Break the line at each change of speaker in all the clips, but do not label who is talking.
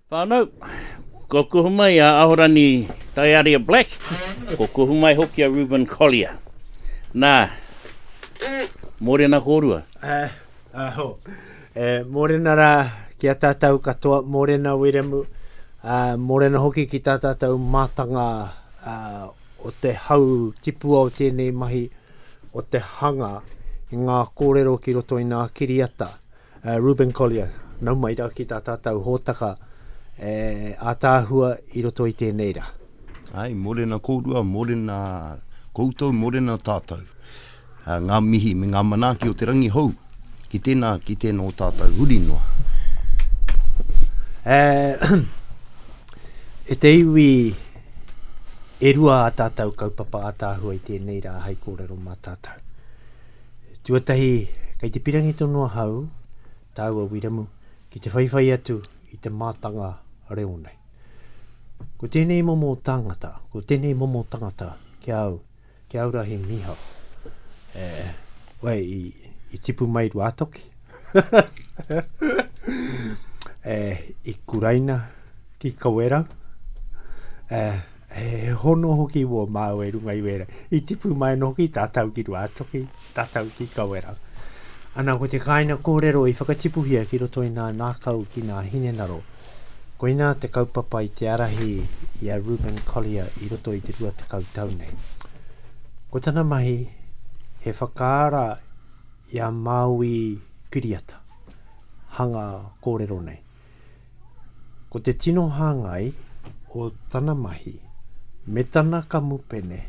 Whanau, ko kuhu mai a Ahorani Taiaria Black, ko kuhu mai hoki a Reuben Collier. Nā, mōrena kōrua. Aho, e
mōrena rā ki a tātou katoa, mōrena Wiremu, ā, mōrena hoki ki tā tātou mātanga o te hau tipua o tēnei mahi, o te hanga i ngā kōrero ki roto i ngā kiriata. Reuben Collier, nau mai rā ki tā tātou hōtaka e ātaahua i roto i tēnei rā. Āe, mōrena
kōrua, mōrena koutou, mōrena tātou. Ngā mihi me ngā manaaki o te rangi hou ki tēnā, ki tēnā o tātou huri noa.
E te iwi e rua ā tātou kaupapa ātaahua i tēnei rā hei kōrero mā tātou. Tuatahi, kei te pirangi tonu ahau, tāu a Wiramu, ki te whaiwhai atu i te mātanga reo nei. Ko tēnei momo tāngata, ko tēnei momo tangata ki a au, ki au rahi mihau. E, wai, i, i tipu mai rua toki. e, i kuraina ki kawerau. E, He hono hoki wō māu e runga i wēra. I tipu mai no ki tātau ki rua atoki, tātau ki kawera. Ana ko te kāina kōrero i whakatipuhia ki roto i nā nākau ki nā hinenaro. Koina te kaupapa i te arahi i a Ruben Collier i roto i te rua te kautau nei. Ko tana mahi, he whakaara i a Māui Piriata, hanga kōrero nei. Ko te tino hāngai o tana mahi me tana kamupene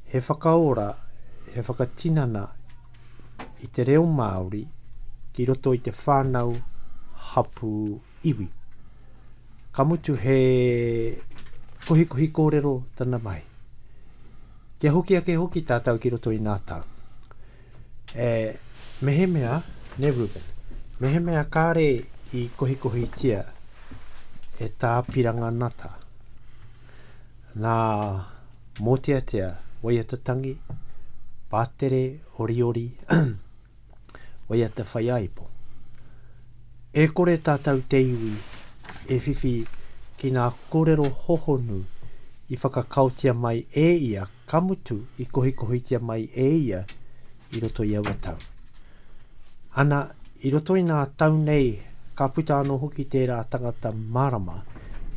he whakaora, he whakatinana i te reo Māori ki roto i te whānau hapū iwi. Ka mutu he kohikohi kōrero tana mahi. Kia hoki ake hoki tātou ki roto i ngā tau. E, mehemea, ne Reuben, mehemea kāre i kohikohitia e tā Piranga Nata, nā Mōteatea, waiata tangi, pātere, oriori, waiata whaiāipo. E kore tātou te iwi e whiwhi ki ngā kōrero hohonu i whakakaotia mai e ia Ka mutu i kohikohitia mai e ia i roto i aua tau. Ana, i roto i ngā tau nei, ka puta anō hoki tērā tangata mārama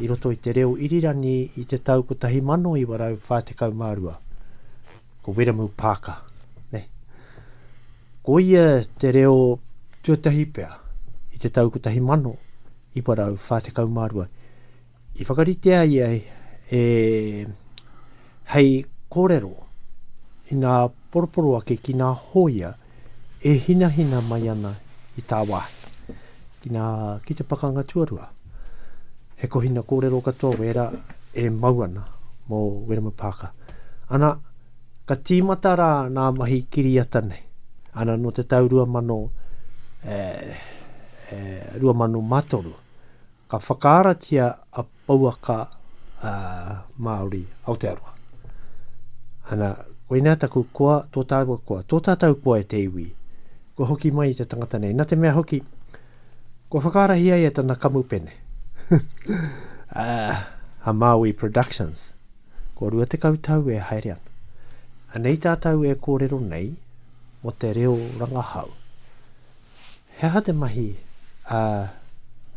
i roto i te reo irirangi i te tau 1942, ko Wiremu Paaka. Nei. Ko ia te reo tuatahi pea i te tau 1942 I whakaritea ia e hei korero i nga poroporo ake ki nga hoia e hinahina mai ana i tawahi. Ki nga, ki te pakanga tuarua, he kohina korero katoa wera e mau ana mo Wiremu Parker. Ana, ka timata ra nga mahi kiriata nei. Ana, no te tau 2000, eh, eh, 2003, Ka whakaaratia a pouaka a Māori Aotearoa. Ana, koinā taku koa, tō tāua koa, tō tātou koa e te iwi. Kua hoki mai i te tangata nei, nā te mea hoki, kua whakaarahia ia tana kamupene. a Māui Productions, kua rua tekau tau e haere ana. Anei tātou e kōrero nei mō te reo rangahau. He aha te mahi a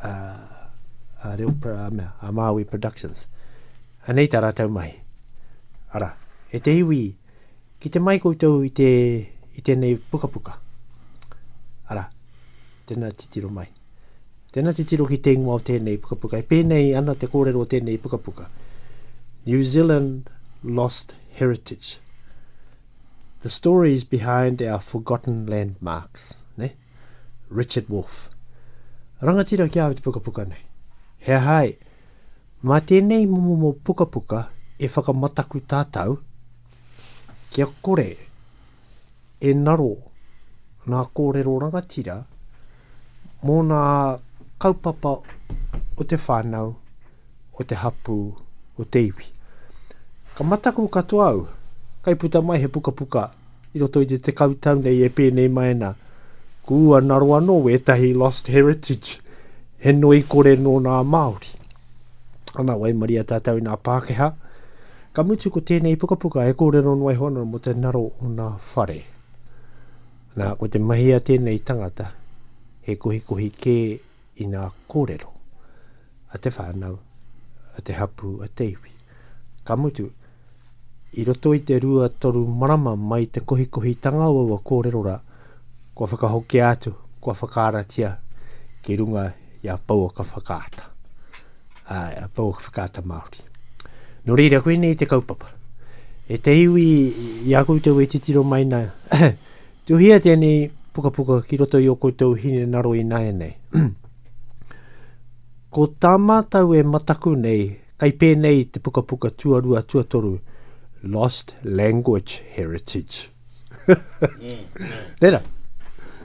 a a reo a mea, a Māui Productions? Anei tā rātou mahi. Arā, e te iwi, ki te mai koutou i te i tēnei pukapuka. Arā, tēnā titiro mai. Tēnā titiro ki te ingoa o tēnei pukapuka. E pēnei ana te kōrero o tēnei pukapuka. New Zealand Lost Heritage. the stories behind our forgotten landmarks, ne? Richard Wolf. Rangatira ki awe te pukapuka nei. He aha e? Mā tēnei momo pukapuka e whakamataku tātou kia kore e naro nā kōrero rangatira mō ngā kaupapa o te whānau, o te hapū, o te iwi. Ka mataku katoa au, kai puta mai he pukapuka i roto i te tekau tau nei e pēnei mai ana, kua naro anō wētahi lost heritage, he noi kore nō nā Māori. Ana, waimaria tātou i nā Pākehā, ka mutu ko tēnei pukapuka e kōrero noa iho ana mō te naro o nā whare. Nā, ko te mahi a tēnei tangata, he kohikohi kē i ngā kōrero a te whānau, a te hapū, a te iwi. Ka mutu, i roto i te rua toru marama mai te kohikohitanga o aua kōrero rā, kua whakahokia atu, kua whakaaratia ki runga i a Pouaka Whakaata. ā, tōku whakaata Māori. Nō reira, koinei te kaupapa. E te iwi, i a koutou e titiro mai nā, tuhia tēnei pukapuka ki roto i o koutou hine naro i nāianei. Ko tā mātou e mataku nei, kai pēnei te pukapuka tuarua tuatoru, Lost Language Heritage. Mm, Tera.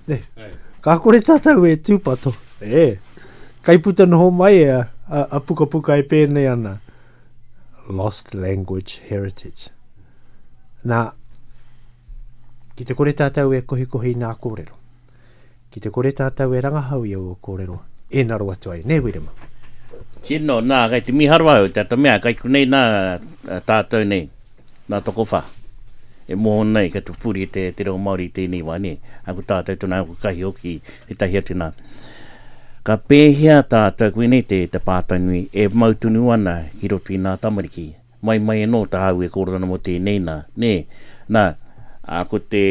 Ne. Ka kore tātou e tūpato. E. Kai puta noho mai e a, a, a pukapuka e pēnei ana. Lost language heritage. Nā, ki te kore tātou e kohikohi nā kōrero. Ki te kore tātou e rangahau i aua kōrero, ēnaro atu ai, nē Wiremu? Tino,
nā, kei te miharo au, te ata mea, kei konei nā tātou nei, nā Tokowha, e moho nei kia pupuri e te reo Māori i tēnei wā, nē, a ko tātou tonu, a ko Kahi hoki, ētahi atu nā. Ka pēhea tātou, koinei te pātai nui, e mau tonu ana ki roto i nā tamariki? Mai, mai anō tāu e kōrero ana mō tēnei nā, nē? Nā, ā, ko te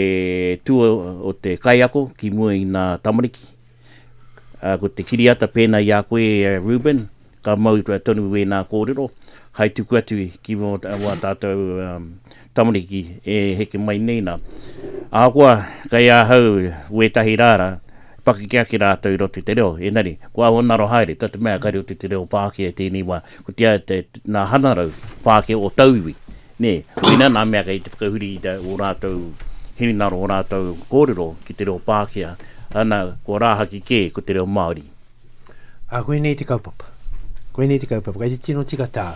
tua o te kaiako ki mua i ngā tamariki, ā, ko te kiriata pēnā i a koe, e Reuben, ka mau tonu wēnā kōrero, hai tuku atu ki mō wā tātou tamariki e heke mai nei nā. Ahakoa, kei ahau wētahi rā rā, Pakeke ake rātou i roto i te reo, engari, ko aua ngaro haere, tā te mea kare o te te reo Pākehā i tēnei wā, ko te a, te, nā hanarau Pākehā o tauiwi, nē, koina nā mea kei te whakahuri i tā o rātou hinengaro, o rātou kōrero ki te reo Pākehā, ana, kua rāhaki kē ko te reo Māori. Ā,
koinei te kaupapa. Koinei te kaupapa. Kei te tino tika tā,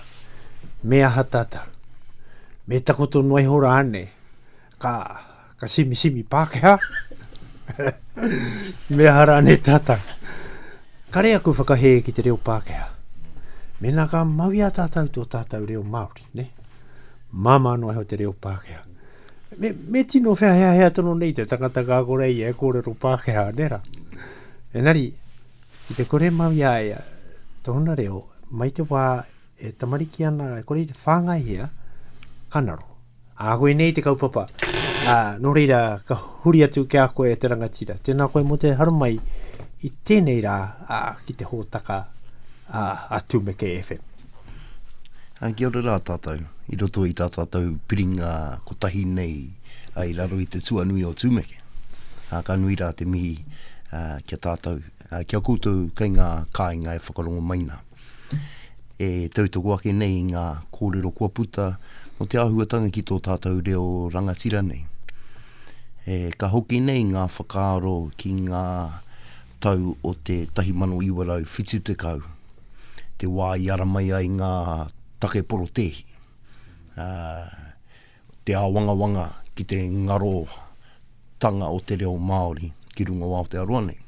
me aha tata? Me takoto noa iho rānei? Ka Ka simisimi Pākehā. Me aha rānei tātou? Kare aku whakahē ki te reo Pākehā. Mēnā ka mau i a tātou tō tātou reo Māori, ne? Māmā noa iho te reo Pākehā. Me, me tino wheaheahea tono nei te tangata ka kore ia e kōrero Pākehā, ne rā? Enari, i te kore mau i a ia, tōna reo, mai te wā E tamariki ana, e kore i te whāngaihia, ka naro. Ā, koinei te kaupapa. Ā, nō reira, ka huri atu ki a koe te rangatira. Tēnā koe mō te haramai i tēnei rā ā, ki te hōtaka ā, a Tumeke FM. Ā,
kia ora rā tātou, i roto i tā tātou piringa kotahi nei ā, i raro i te tuanui o Tumeke. Ā, ka nui rā te mihi ā, ki a tātou. Ki a koutou kei ngā kāinga e whakarongo mai nā, e tautoko ake nei i ngā kōrero kua puta mō te āhuatanga ki tō tātou reo rangatira nei. E, ka hoki nei ngā whakaaro ki ngā tau o te 1970, te wā i ara mai ai ngā take porotēhi. Ā, Te āwangawanga ki te ngarotanga o te reo Māori ki runga o Aotearoa nei.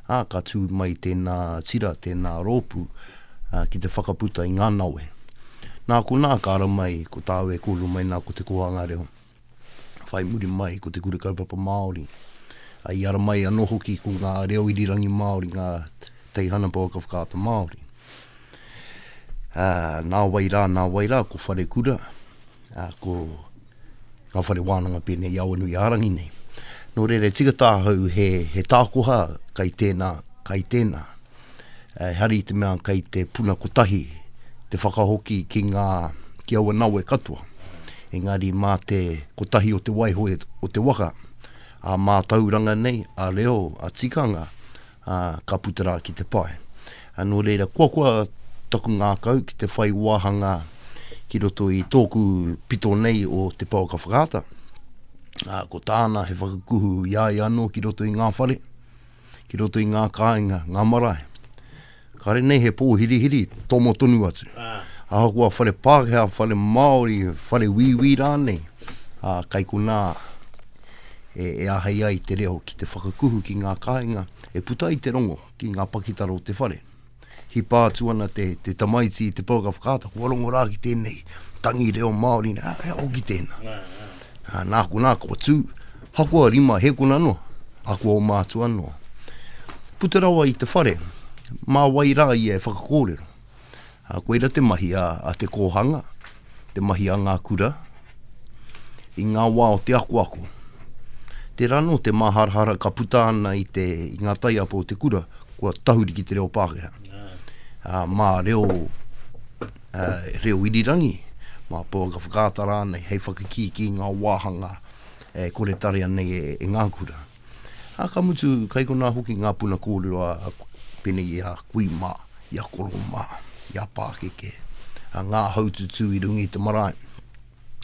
Ā, ka tū mai tēnā tira, tēnā rōpū ki te whakaputa i ngā nawe. Nā konā ka ara mai ko tāu e kōrero mai nā ko te kōhanga reo. Whai muri mai ko te Kura Kaupapa Māori. I ara mai anō hoki ko ngā reo irirangi Māori, ngā teihana pouaka whakaata Māori. Nā wai rā, nā wai rā ko Wharekura, ā, ko ngā whare wānanga pēnei i Awanuiārangi nei. Nō reira, tika tāhau he, he tākoha kai tēnā, kai tēnā. E hari i te mea kai te puna kotahi te whakahoki ki ngā, ki aua nawe katoa. Engari mā te kotahi o te waiho e, o te waka, ā mātauranga nei, ā reo, ā tikanga, ā, ka puta rā ki te pae. Nō reira, kua koa taku ngākau ki te whai wāhanga ki roto i tōku pito nei o Te Pouaka Whakaata, ā, ko tāna he whakakuhu i a ia anō ki roto i ngā whare, ki roto i ngā kāinga, ngā marae. Kāre nei he pōhirihiri, tomo tonu atu. Ahakoa whare Pākehā, whare Māori, whare wīwī rānei, ā, kai konā, e, e āhei ai te reo ki te whakakuhu ki ngā kāinga e puta ai te rongo ki ngā pakitara o te whare. Hipa atu ana te, te tamaiti i te pouaka whakaata, kua rongo rā ki tēnei tangi reo Māori, nā, he ako ki tēnā. Nā, nā. nā konā, kua tū, hakoa rima, he kona noa, a kua o mātua noa. Puta rawa i te whare, mā wai rā ia e whakakōrero. Ā, koira te mahi a, a te kōhanga, te mahi a ngā kura, i ngā wā o te akoako. Tērā anō te māharahara ka puta ana i te, i ngā taiapa o te kura, kua tahuri ki te reo Pākehā. Ā, mā reo, ā, reo irirangi, mā pouaka whakaata rānei, hei whakakīkī i ngā wāhanga e kore tarea nei e, e ngā kura. Ā, ka mutu, kei konā hoki ngā puna kōrero a, pēnei i a kui mā, i a koro mā, i a pākeke, a ngā haututū i runga i te marae,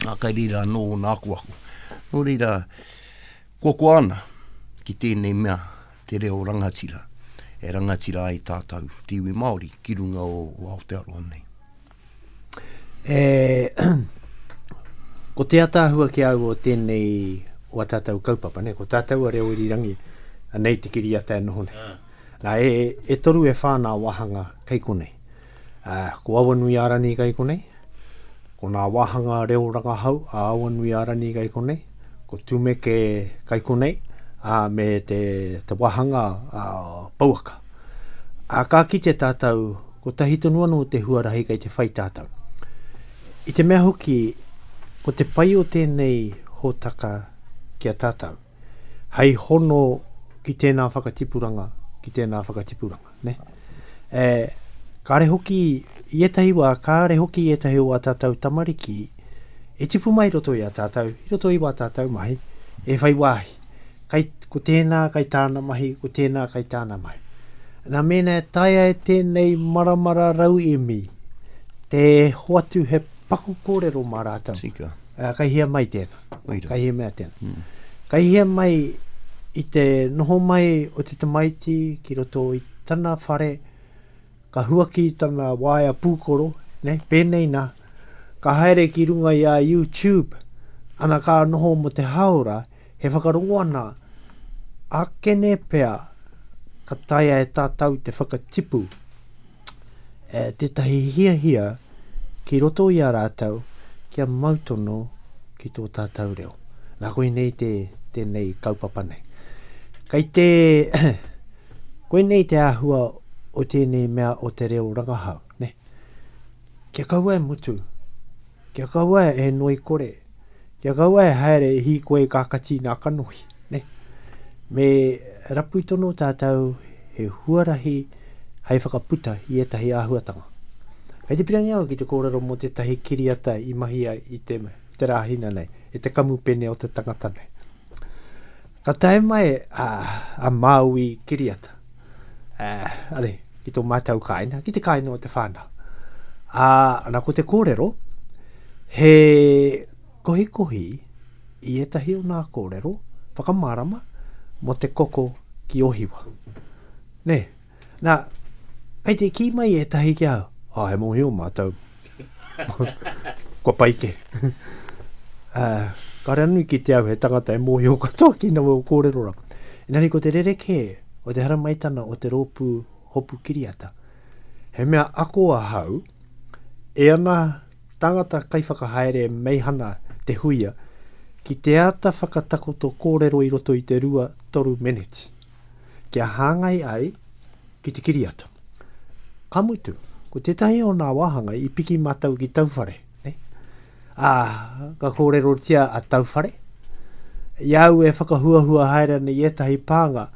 ā, kei reira anō ōna akoako. Nō reira, koakoa ana ki tēnei mea te reo rangatira, e rangatira ai tātou te iwi Māori ki runga o, o Aotearoa nei. E,
ko te ataahua ki au o tēnei, o a tātou kaupapa, ne, ko tātou a reo irirangi, anei te kiriata e noho nei. Ah. Na, e, e toru e whā nā wāhanga kei konei. A, ko Awanuiārani kei konei, ko nā wāhanga reo rangahau a Awanuiārani kei konei, ko Tumeke Kaikonei, ā, me te, te wāhanga ā, pouaka. Ā, ka kite tātou, ko tahi tonu anō te huarahi kei te whai tātou. I te mea hoki, ko te pai o tēnei hōtaka ki a tātou, hei hono ki tēnā whakatipuranga, ki tēnā whakatipuranga. ne? E, kāre hoki, i ētahi wā, kāre hoki i ētahi o a tātou tamariki, e tipu mai roto i a tātou, i roto i wā tātou mahi, e whai wāhi. Kai, ko tēnā kai tāna mahi, ko tēnā kai tāna mahi. Nā mēnā e taia e tēnei maramara rauemi, te hoatu he paku kōrero mā rātou. Tika. Uh, kai hea
mai
tēnā? Ka hia mea tēnā. Mm. Ka hia mai i te noho mai o te tamaiti ki roto i tana whare, ka huaki tana waea pūkoro, ne, pēnei nā, ka haere ki runga i a YouTube, ana ka noho mo te haora, he whakarongo ana, akene pea ka taea e tātau te whakatipu. tētahi hiahia ki roto i a rātou kia mau tono ki tō tātou reo. Nā koinei te, tēnei kaupapa nei. Kei te, koinei te āhua o tēnei mea o te reo rangahau, ne? Kia kaua e mutu, Kia kaua e noi kore, kia kaua e haere e hīkoi e kākati nā kanohi. Ne? Me rapu tono tātou he huarahi hei whakaputa i ētahi āhuatanga. Kei te pirangi au ki te kōrero mō tētahi kiriata i mahia i te, te rāhina nei, e te kamupene o te tangata nei. Ka tae mai a, a Māui Kiriata, uh, are, ki tō mātou kāina, ki te kāina o te whānau. A, ana ko te kōrero, he kohikohi i etahi o nā kōrero, whakamārama, mo te koko ki Ohiwa. Nē. Nā, kei te kī mai ētahi ki au, oh, he mōhio mātou. Kua pai ke. uh, ka rea nui ki te au he tangata e mōhio katoa ki nawe o kōrero ra. Engari ko te rerekē o te haramaitana o te rōpū hopu kiriata. He mea ako ahau, e ana tangata kaiwhakahaere e meihana te huia, ki te ata whakatakoto kōrero i roto i te rua, toru meneti. kia hāngai ai ki te kiriata. Ka mutu, ko tētahi o nā wāhanga i piki mātou ki Tauwhare. Ne? Ā, ka kōrerotia a Tauwhare, i au e whakahuahua haere ana i ētahi pānga,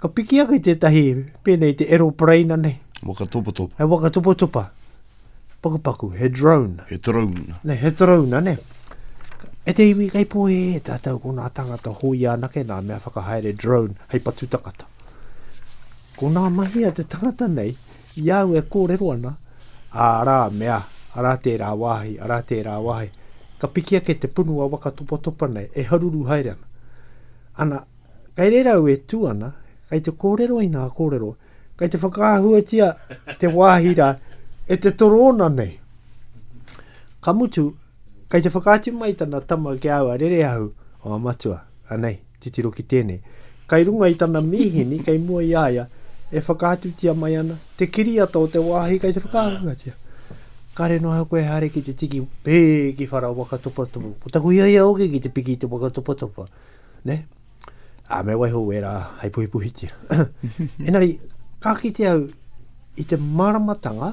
ka piki ake tētahi pēnei te eropareina nei. Wakatopotopa. He
wakatopotopa.
pakupaku, he drone. He drone. Ne,
he drone, ne.
E te iwi kai po e e tātou ko nā tangata hoia anake nā mea whakahaere drone hei patu takata. Ko nā mahi a te tangata nei, i au e kōrero ana, ā rā mea, arā tērā wāhi, arā tērā wāhi, ka piki ake te punu a waka topatopa nei, e haruru haere ana. Ana, kai reira au e tū ana, kai te kōrero i nā kōrero, Kei te whakaahuatia te wāhi rā e te torōna nei. Ka mutu, kei te whakaatu mai tana tama ki a au a Rereahu, o a matua, anei, titiro ki tēnei. Kei runga i tana mīhini, kei mua i a ia, e whakaatutia mai ana te kiriata o te wāhi kei te whakaahuatia. Kare noa koe haere ki te tiki, pē ki whara waka topatopa. Ko taku hiahia hoki ki te piki i te waka topatopa. Ne? Ā, me waiho wērā hei puhipuhitia. Engari, ka kite au i te māramatanga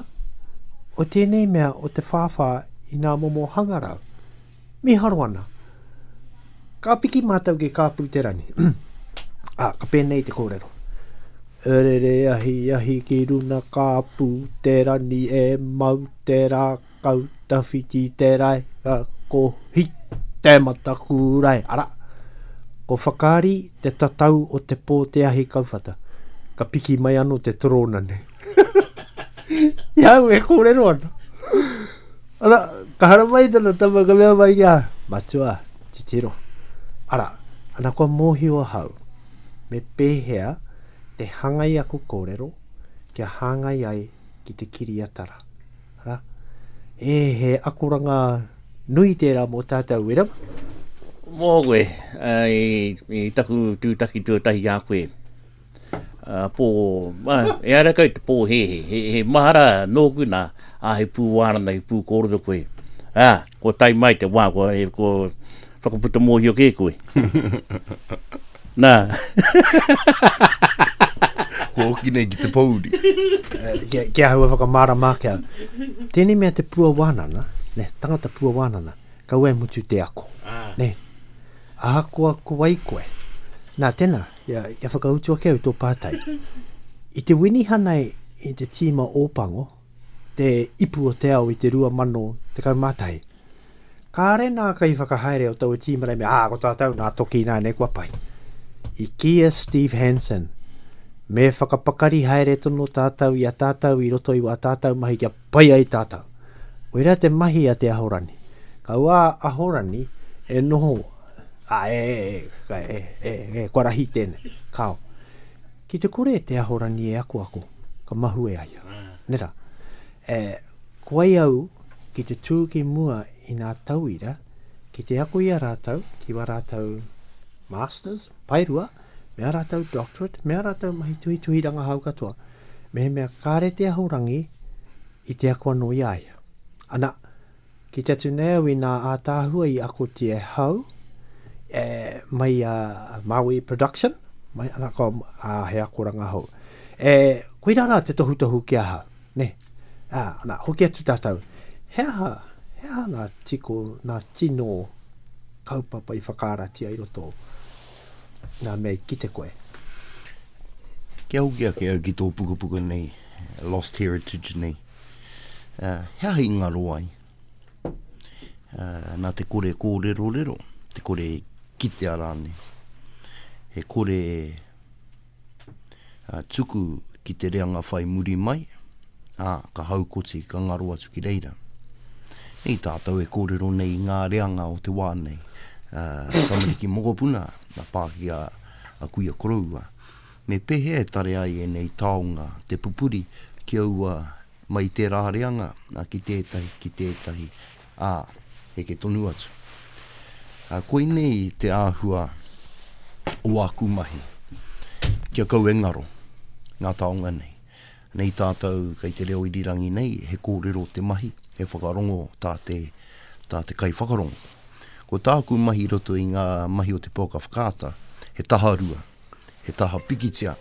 o tēnei mea o te whāwhā i ngā momo hangarau. Miharo ana. Ka piki mātou ki Kāpū Te Rangi. Ā, ka pēnei te kōrero. E rere ahi ahi ki runa Kāpū Te Rangi e mau te rā Kau tawhiti te rae, ra ko hi te mataku rae, ara. Ko whakaari te tatau o te po te ahi kauwhata. Ka piki mai ano te torona nei. I au e korero ano. Ara, ka hara mai tana tama ka mea mai kia, matua, titiro. Ara, ana kua mohio ahau, me pehea te hangai aku korero kia hangai ai ki te kiriatara. Ara. E, he akoranga nui tērā mō tātou, e rawa? Mō
koe, i, i taku tūtaki tuatahi a koe. Uh, pō, uh, e ara kau te pō he, he, he, he mahara nōku nā, a he pū wārana, he pū kōrero koe. Ah, Kua tae mai te wā, kua, e, kua whakaputa mōhio kē koe. Nā.
kua hoki nei ki te pōuri. Eh, kia,
kia hua whakamārama ake au. Tēnei mea te pua wānana, ne, tangata pua wānana, kaua e mutu te ako. Ah. Ne, ahakoa ko wai koe. Nā, tēnā, kia, kia whakautu ake au tō pātai. I te winihana i te tīma Ōpango, te ipu o te ao i te 2011. Kāre nā kaiwhakahaere o taua tīma nei me, ā, ko tātou nā toki ināianei kua pai. I kī a Steve Hansen, me whakapakari haere tonu tātou i a tātou i roto i wā tātou mahi kia pai ai tātou. Koirā te mahi a Te Ahorani. Ka wā Ahorani e noho, ā, e, e, e, e, e, e, kua rahi tēnei, kāo. Ki te kore te Ahorangi e akoako, ka mahue ai au. Ne ra. E, ko ai au ki te tu ki mua i nga tauira, ki te ako i a ratou, ki wa ratou Masters, Paerua, me a ratou Doctorate, me a ratou mahi tuhituhi rangahau katoa, mehemea kare te Ahorangi i te ako ano i a ia. Ana, Ki te Tuneau inā ātaahua i akotia e Hau, e, mai a Maui Production, mai ana ko, ā, he akoranga hou. E, koirā rā te tohutohu ki a Hau, nē. Ā, nā, hoki atu tātou, he aha, he aha ngā tiko, ngā tino kaupapa i whakaaratia i roto ngā mea i kite koe?
Kia hoki ake au ki tō pukapuka nei, Lost Heritage nei. Uh, he aha i ngaro ai? Uh, nā te kore kōrero rero, te kore kitea rāne. He kore uh, tuku ki te reanga whai muri mai, ā, uh, ka haukoti, ka ngaro atu ki reira. Nei tātou e kōrero nei ngā reanga o te wā nei. Uh, Tamariki Mokopuna, na pāki a, a Kuia Koroua. Me pēhea e tare ai ēnei taonga te pupuri ki aua mai i tērā reanga ki tētahi, ki tētahi, ā, heke tonu atu? Koinei te āhua o āku mahi, kia kau e ngaro ngā taonga nei. Nei tātou kei te reo irirangi nei, he kōrero te mahi, he whakarongo tā te, tā te kaiwhakarongo. Ko tāku mahi i roto i ngā mahi o te Pouaka Whakaata, he taharua. He taha pikitia.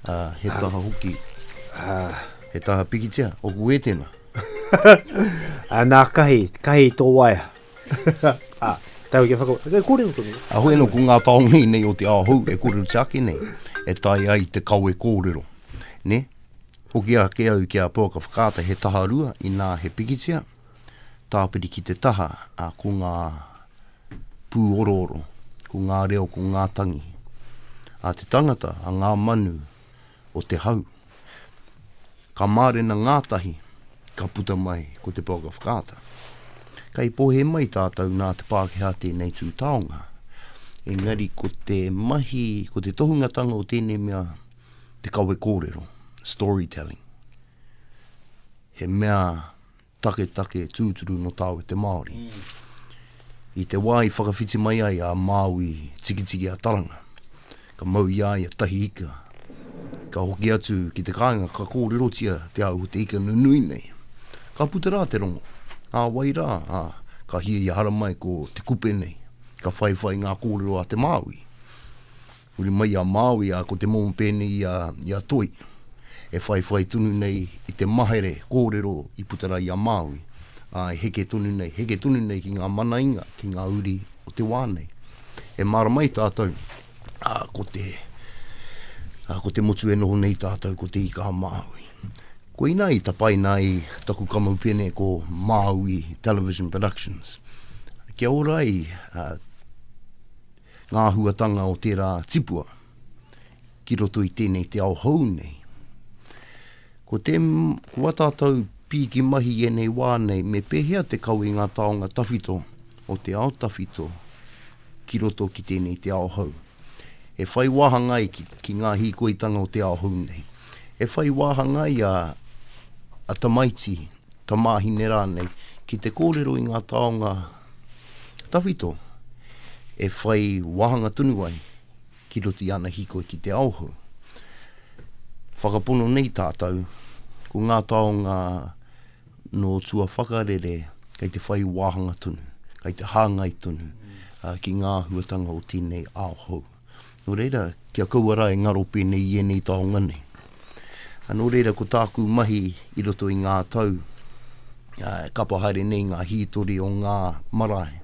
Ā, he taha hoki. He taha pikitia. Oku e tēnā.
Nā, kahi, kahi tō waea. Ā, tau kia whaka... E kōrero tonu. Ā, hoi anō, ko ngā taonga
i nei o te ao hou e kōrero te ake nei, e taea ai te kawe kōrero. Nē? Hoki ake au ki a Pouaka Whakaata, he taha rua, inā he pikitia. tāpiri ki te taha, ā, ko ngā pūorooro, ko ngā reo, ko ngā tangi a te tangata, a ngā manu o te hau. Ka mārena ngātahi, ka puta mai ko te Blog of Kaata. Kei pohe mai tātou nā te Pākehā tēnei tū taonga, engari ko te mahi, ko te tohungatanga o tēnei mea te kawe kōrero, storytelling. he mea taketake tūturu no tāwe te Māori. I te wā i whakawhiti mai ai a Māui tikitiki a Taranga, ka mau i a ia tahi ika, ka hoki atu ki te kāinga ka kōrerotia te au o te ika nunui nei. Ka puta rā te rongo, ā wai rā, ā, ka hiahia haramai ko te kupe nei, ka whaiwhai ngā kōrero a te Māui. Huri mai i a Māui, ā, ko te momo pēnei i a, i a Toi, e whaiwhai tonu nei i te mahere kōrero i puta rā i a Māui, ā, e heke tonu nei, heke tonu nei ki ngā manainga, ki ngā uri o te wā nei. E mārama ai tātou, ā, ko te, ā, ko te motu e noho nei tātou ko Te Ika-a-Māui. Koinā i tapaina ai taku kamupene ko Māui Television Productions. Kia ora ai, ā, Ngā āhuatanga o tērā tipua ki roto i tēnei te ao hou nei. Ko te, ko a tātou pīki mahi i ēnei wā nei, me pēhea te kawe ngā taonga tawhito o te ao tawhito ki roto ki tēnei te ao hou. E whai wāhanga ai ki, ki ngā hīkoitanga o te ao hou nei. E whai wāhanga ai a, a tamaiti, tamāhine rānei, ki te kōrero i ngā taonga Tawhito e whai wāhanga tonu ai ki roto i ana hīkoi ki te ao hou. Whakapono nei tātou, ko ngā taonga nō tua whakarere kei te whai wāhanga tonu, kei te hāngai tonu ki ngā āhuatanga o tēnei ao hou. Nō reira, ki a kaua rā e ngaro pēnei i ēnei taonga nei. Nō reira, ko tāku mahi i roto i ngā tau, e kapa haere nei ngā hītori o ngā marae,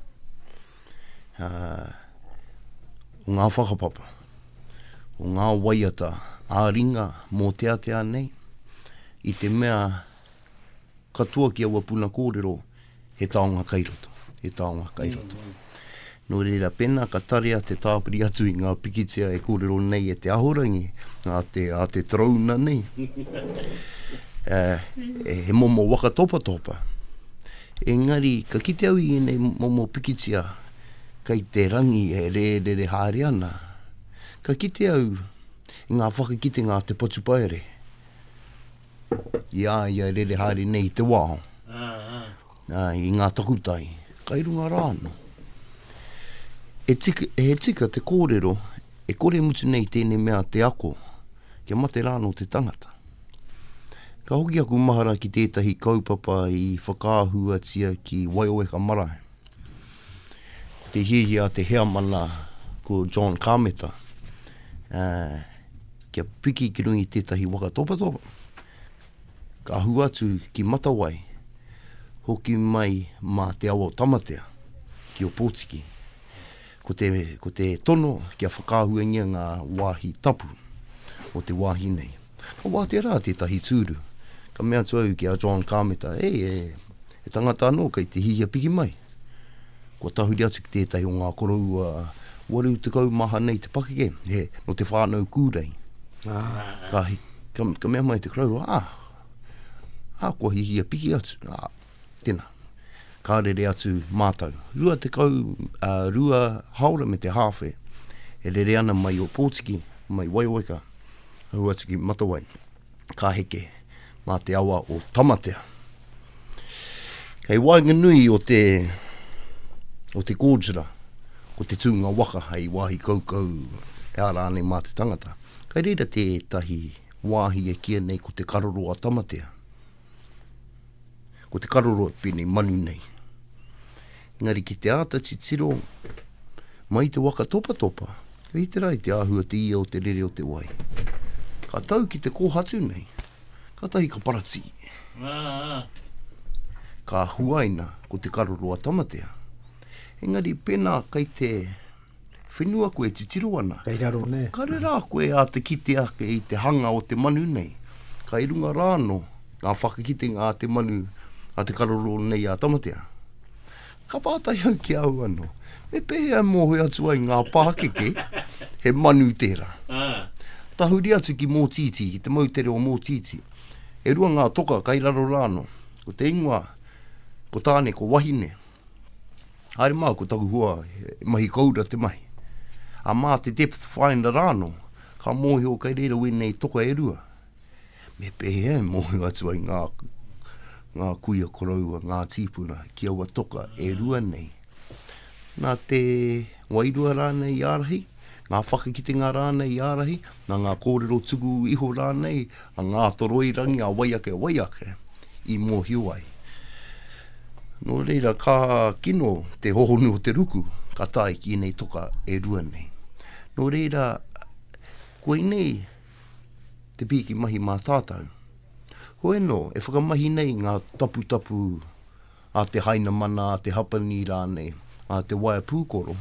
o ngā whakapapa, o ngā waiata ā-ringa mōteatea nei, i te mea katoa ki aua puna kōrero, He taonga kai roto, he taonga kai roto. Nō reira, pēnā ka tarea te tāpiri atu i ngā pikitia e kōrero nei e te ahorangi, a te, a te torouna nei, uh, he momo waka topatopa. Engari, ka kite au i ēnei momo pikitia, kai te rangi e rērere haere ana, ka kite au i ngā whakakitenga a te patupaere, i a ia rere haere nei i te wao, uh, i ngā takutai, kai runga rā anō. E tika, e he tika te kōrero, e kore mutu nei tēnei mea te ako, kia mate rā anō te tangata. Ka hoki aku mahara ki tētahi kaupapa i whakaahuatia ki Waioweka Marae. Ko te hiahia a te heamana, ko John Kameta, uh, kia piki ki rungi tētahi waka topatopa. Ka hu atu ki Matawai, hoki mai mā te awa o Tamatea, ki o Pōtiki. Ko te, ko te tono kia whakaahuangia ngā wāhi tapu o te wāhi nei. Ka wātea rā tētahi tūru, ka mea atu au ki a John Kāmeta, e, e, he tangata anō kei te hihia piki mai. Kua tahuri atu ki tētahi o ngā koroua 80 maha nei te pakeke, he, nō Te Whānau Kūrei. Ka, ka, ka mea mai te koroua, ā, ā, kua hihia piki atu, ā, Tena. Ka rere atu mātou. Rua tekau, a, rua haora me te hāwhe. E rere ana mai o Pōtiki, mai Waiwaika, hau atu ki Matawai. Ka heke mā te awa o Tamatea. Kei waenganui o te, o te Gorgera, ko te tūnga waka hei wāhi kaukau, e a rānei mā te tangata. Kei reira tētahi wāhi e kīa nei ko te Karoro a Tamatea. Ko te karoro e pēnei manu nei. Engari ki te āta titiro mai te waka topatopa, ka hite rā i te āhua te ia o te rere o te wai. Ka tau ki te kōhatu nei, ka tahi ka paratī. Ka huaina ko te karoro a Tamatea. Engari pēnā kei te whenua koe e titiro ana. Kei raro nei. Ka rera
koe e a
te kite ake i te hanga o te manu nei. Ka i runga rā no, ngā whakakitenga a te manu, a te karororo nei a Tamatea. Ka pātai au ki a au ano, me pehea e mohoe atu ai ngā pākeke he manu tera? Tahuri atu ki Motiti, ki te moutere o Motiti. E rua ngā toka kei raro rā no, ko te ingoa, ko Tane, ko Wahine. Haere mā, ko taku hua, he mahi koura te mahi. A mā te depth finder rāno, ka mōhio kei reira wēnei toka e rua. Me pēhea e mōhio atu ai ngā, ngā kuia koroua, ngā tīpuna ki aua toka e rua nei. Nā te wairua rānei i ārahi, ngā whakakitenga rānei i ārahi, Nā ngā kōrero tuku iho rānei a Ngātoroirangi, a wai ake, wai ake i mōhio ai. Nō reira, ka kino te hohonu o te ruku ka tae ki ēnei toka e rua nei. Nō reira, koinei te pīki mahi mā tātau. Hoi anō, e whakamahi nei ngā taputapu a te Hainamana, a te Hapani rānei, a te waea pūkoro,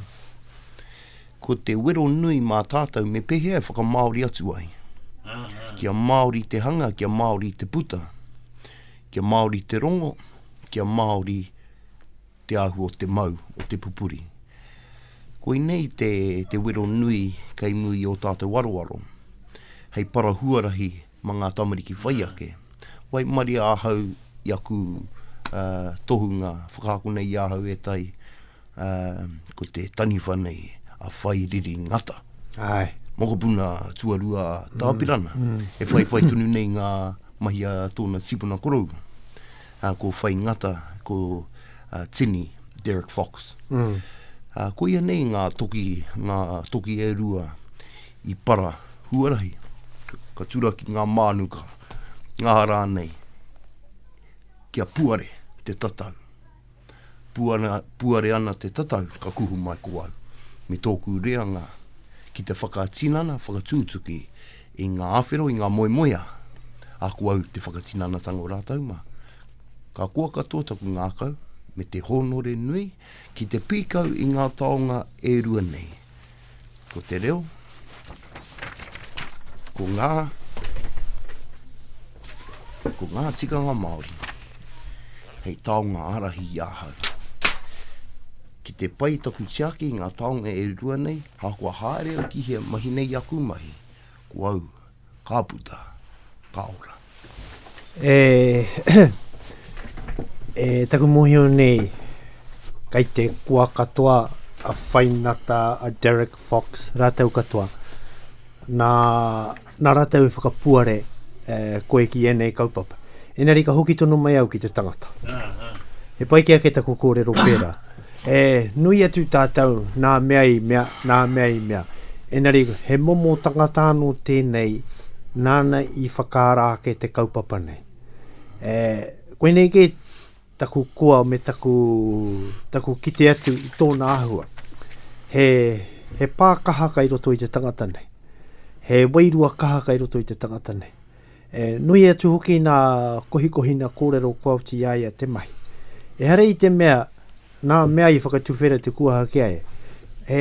ko te wero nui mā tātou me pēhea e whakamāori atu ai. Kia māori te hanga, kia māori te puta, kia māori te rongo, kia māori te ahu o te mau, o te pupuri. Koinei te wero nui kei muri i ō tātou aroaro, hei para huarahi Ma nga tamariki whai ake. Waimaria ahau i aku tohunga, whakaakona i ahau etahi, ko te taniwha nei a Whairiri Ngata. Aye.
Mokopuna
tuarua a Tapirana, e whaiwhai tonu nei nga mahi a tona tipuna koroua. Ko Whai Ngata, ko Tini, Derek Fox. Koia nei nga toki, nga toki e rua, I para, huarahi, ka turaki ngā mānuka, ngā rānei, kia puare te tatau. Puare, puare ana te tatau, ka kuhu mai ko au, me tōku reanga ki te whakatinana, whakatūtuki i ngā awhero, i ngā moemoeā, ā, ko au te whakatinanatanga o rātou mā. Ka koa katoa taku ngākau, me te hōnore nui, ki te pīkau i ngā taonga e rua nei. Ko te reo, ko ngā, ko ngā tikanga Māori, hei taonga arahi i ahau. Ki te pai taku tiaki i ngā taonga e rua nei, hākua haere au ki hea mahi nei aku mahi, ko au Ka puta, ka ora. E,
e taku mohio nei, kai te koa katoa a Whainata, a Derek Fox, rātou katoa. Nā, nā rātou e whakapuare e, koe ki ēnei kaupapa. Engari ka hoki tonu mai au ki te tangata. He pai ki ake taku kōrero pērā. E nui atu tātou nā mea i mea, nā mea i mea. Engari, he momo tangata anō tēnei nāna i whakaara ake te kaupapa nei. E, koinei kē taku koa me taku, taku kite atu i tōna āhua. He, he pā kaha kai roto i te tangata nei. He wairua kaha kai roto i te tangata nei. He nui atu hoki nā kohikohina kōrero kua oti i a ia te mahi. Ehara i te mea nā mea i whakatuwhera te kuaha ki a ia. He,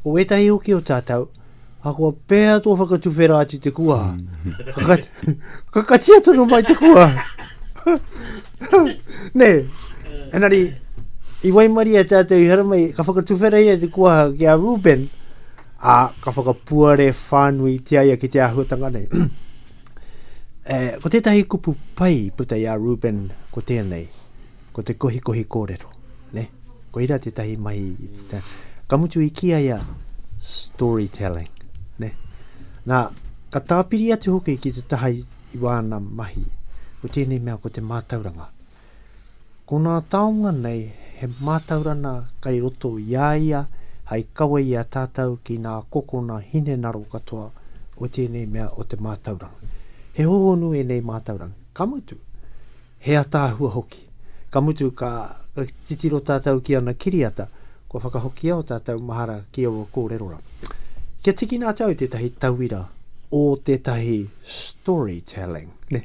ko ētahi hoki o tātou, ahakoa pēhea tō whakatuwhera atu te kuaha, ka, ka katia tonu mai te kuaha. Nē, engari, i waimaria tātou i haramai, ka whakatuwhera ia te kuaha ki a Reuben, ā, ka whakapuare whānuitia ia ki te āhuatanga nei. e, ko tētahi kupu pai puta i a Ruben ko tēnei, ko te kohikohi kōrero. Ne? Ko ira tētahi mahi. Te, ka mutu i kia ia storytelling. Ne? Nā, ka tāpiri atu hoki ki te taha i, i wāna mahi. Ko tēnei mea ko te mātauranga. Ko ngā taonga nei he mātaurana kei roto i a ia hai kawe i a tātou ki ngā kokona hinengaro katoa o tēnei mea o te mātauranga. He hohonu ēnei mātauranga, ka mutu, he ataahua hoki. Ka mutu ka titiro tātou ki ana kiriata, kua whakahokia o tātou mahara ki aua kōreroranga. Kia tikina atu au tētahi tauira o tētahi storytelling, ne?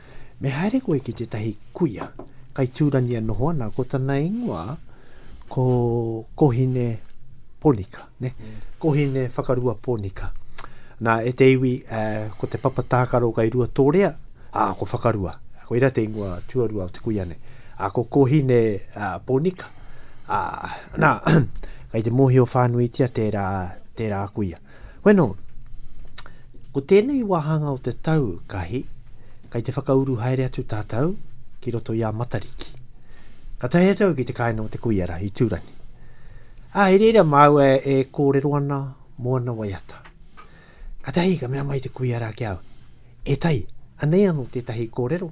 Me haere koe ki tētahi kuia kai tūrani e noho ana, ko tana ingoa ko Kohine Ponika, ne? Kohine Whakarua Ponika. Nā, e te iwi, uh, ko te papa tākaro kai rua tōrea, ā, ko Whakarua. Koira te ingoa tuarua o te kuia nei. Ā, ko Kohine uh, Ponika. Ā, nā, kai te mōhio whānuitia tērā, tērā kuia. Bueno, ko tēnei wāhanga o te tau, Kahi, kei te whakauru haere atu tātou ki roto i a Matariki. Ka tae atu au ki te kāinga o te kuiara i Tūrangi. Ā, i reira māua e kōrero ana mō ana waiata. Ka tahi ka mea mai te kuiara ki a au, E Tai, anei anō tētahi kōrero,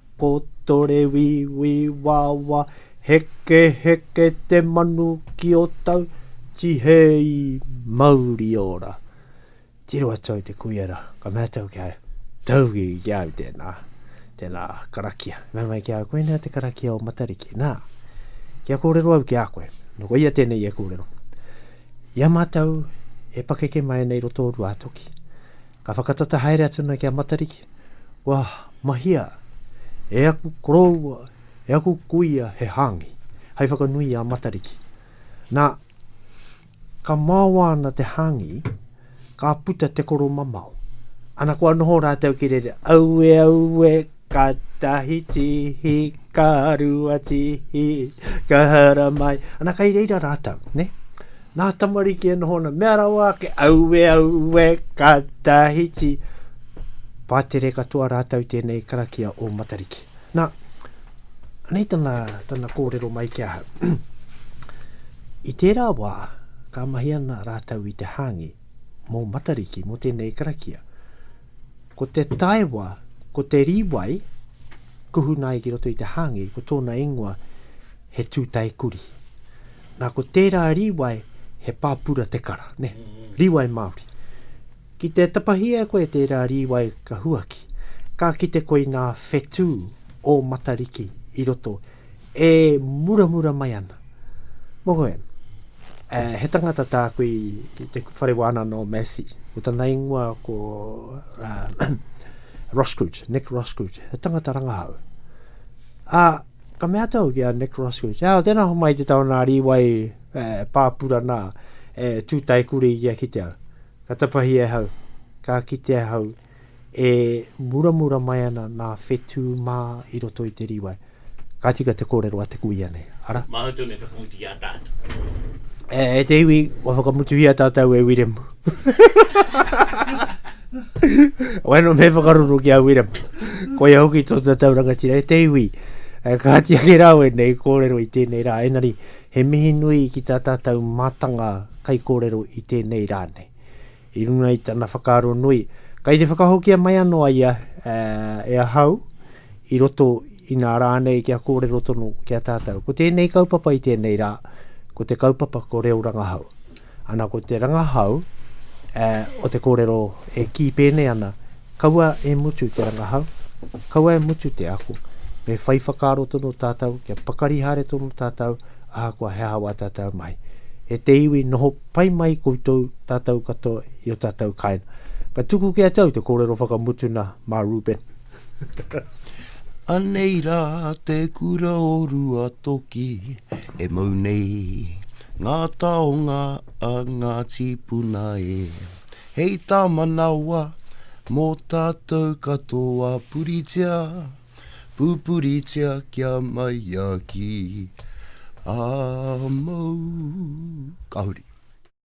Kotore wiwi wawa, heke heke te manu ki o tau, tihei mauri ora. Tiro atu au te kuiera, ka mea tau ki a ia, Taugi ki au tēnā, tēnā karakia. Mea mai ki a au, koinā te karakia o Matariki. Nā, kia kōrero au ki a koe, nō koia tēnei e kōrero. I a mātou e pakeke mai nei i roto o Ruātoki, ka whakatata haere atu ana ki a Matariki, Kua mahia e aku koroua, e aku kuia he hāngi, hei whakanui i a Matariki. Nā, ka maoa ana te hāngi, ka puta te koro mamao. Ana kua noho rātou ki rere, aue, aue, ka tahi tihi, ka rua tihi, ka hara mai. Ana kai reira rātou, ne? Nā tamariki e noho ana, mea rawa ake, aue, aue, ka tahiti. Pātere katoa rātou tēnei karakia o Matariki. Nā, anei tana, tana kōrero mai ki ahau. I tērā wā, ka mahi ana rātou i te hāngi mō Matariki, mō tēnei karakia. Ko te taewa, ko te rīwai, kuhuna ai ki roto i te hāngi, ko tōna ingoa, he tūtae kurī. Nā ko tērā rīwai he pāpura te kara, nē, rīwai Māori. Ki te tapahia e koe tērā rīwai ka huaki, ka kite koe i ngā whetū o Matariki i roto e muramura mai ana. Mohoe, eh, he tangata tāku i, i te whare wānanga o Massey, ko tana ingoa ko uh, Rosscrooge, Nick Rosscrooge, he tangata rangahau. Ā, ah, Ka mea atu au ki a Nick Roscoe, Te ao, tēnā homai te tau nā Rīwai e pāpura nā, e tū taikuri ia ki te ao. Ka tapahi e hau, ka kite ahau e muramura mai ana nā whetū mā i roto i te Rīwai. Ka tika te kōrero a te kuia nei, ara. Māu tonu e whakamutuhia
tātou. E
te iwi, kua whakamutuhia tātou e Wiremu. Wano me whakaruru ki a Wiremu. Ko ia hoki tō tatau rangatira e te iwi. Eh, ka hati ake rā wēnei kōrero i tēnei rā. Engari, he mihi nui ki tā tātou mātanga kaikōrero i tēnei rā nei. I runga i tana whakaaro nui, kei te whakahokia mai anō a ia eh, e ahau i roto inā rā nei kia kōrero tonu ki a tātou. Ko tēnei kaupapa i tēnei rā, ko te kaupapa ko Reo Rangahau. Ana ko te rangahau o te kōrero e kī pēnei ana, Kaua e mutu te rangahau, kaua e mutu te ako, me whai whakaaro tonu tātou kia pakari haere tonu tātou ahakoa he aha wā tātou mahi. E te iwi, noho pai mai koutou tātou katoa i ō tātou kāinga. Ka tuku kē atu au te kōrero whakamutuna mā Reuben.
Anei rā te kura o Ruatoki e mau nei ngā taonga a ngā tīpuna e. Hei tā manawa mō tātou katoa puritia, pūpuritia kia mai a ki a māu. Ka huri.